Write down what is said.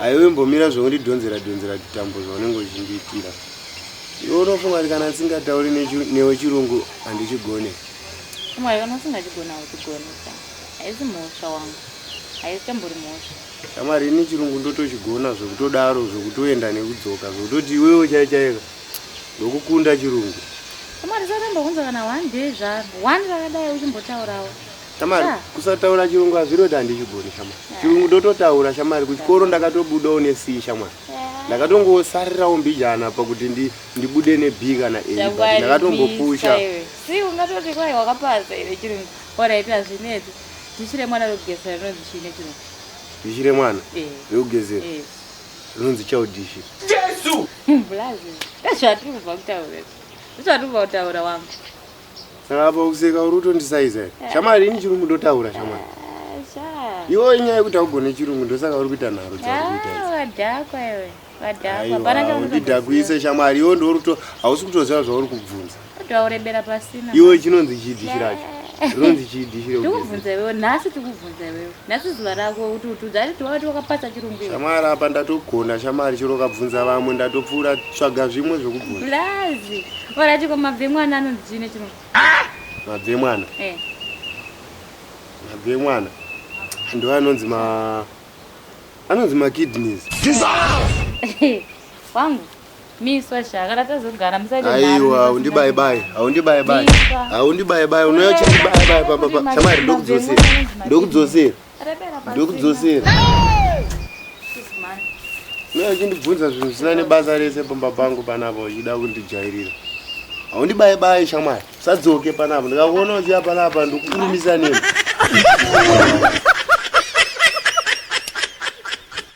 haiwe mbomira zvaundidhonzera dhonzera titambo zvaunenge uchindiitira iwe unofunga kuti kana ndisingatauri newe chirungu handichigone mwari kana usingachigona uchigone haisi mhosva wangu haisi tambori mhosva shamari ini chirungu ndotochigona zvekutodaro zvekutoenda nekudzoka zvekutoti iwewe chaichaika ndokukunda chirungu shamwari saramba kunza kana one day zvaro one rakadai uchimbotaurawo shamwari kusataura chirungu hazviroti handichigoni shamwari chirungu ndototaura shamwari kuchikoro ndakatobudawo nesi shamwari ndakatongosarirawo mbijana pakuti ndibude neb kana a ndakatongopusha si ungatoti kwai wakapasa ire chirungu orit hazvineti dichire mwana rekugezera rinonzi chii nechirungu dichire mwana rekugezera zvinonzi chaudishi jesu mbulazi ndazvatiri kubva kutaura ndazvatiri kubva kutaura wangu saka apa kuseka uri kutondisaiza here eh. shamari ini chirungu ndotaura shamari eh, iwo inyaya yekuti augone chirungu ndosaka uri kuita nharo dzaurikuitaidhakuise ah, shamari iwo ndoruto hausi kutoziva zvauri kubvunza Ndaurebera pasina. Iwe chinonzi chii dishi racho? Rinonzi chii dishi rekuti? Ndikubvunza iwewe nhasi tikubvunza iwewe. Nhasi zuva rako kuti utudza ari tiwati wakapasa chirungu iwe. Shamwari apa ndatogona shamwari chero ukabvunza vamwe ndatopfuura tsvaga zvimwe zvekubvunza. Blazi. Ora chiko mabve mwana anonzi chii nechirungu? Mabve mwana. Eh. Mabve mwana. Ndo anonzi ma anonzi ma kidneys. Dissolve. Wangu. Miswa sha kana tazogara musaite nharo. Aiwa undibaye baye. Haundibaye baye. Haundibaye baye. Unouya chibaye baye pamba pa. Shamari ndokudzosera. Ndokudzosera. Ndokudzosera. Unouya uchindibvunza zvinhu zvisina nebasa rese pamba pangu panapa uchida kundijairira. Haundibaye baye shamari. Usadzoke panapa. Ndikakuona uchiya panapa ndokukurumisa nemi.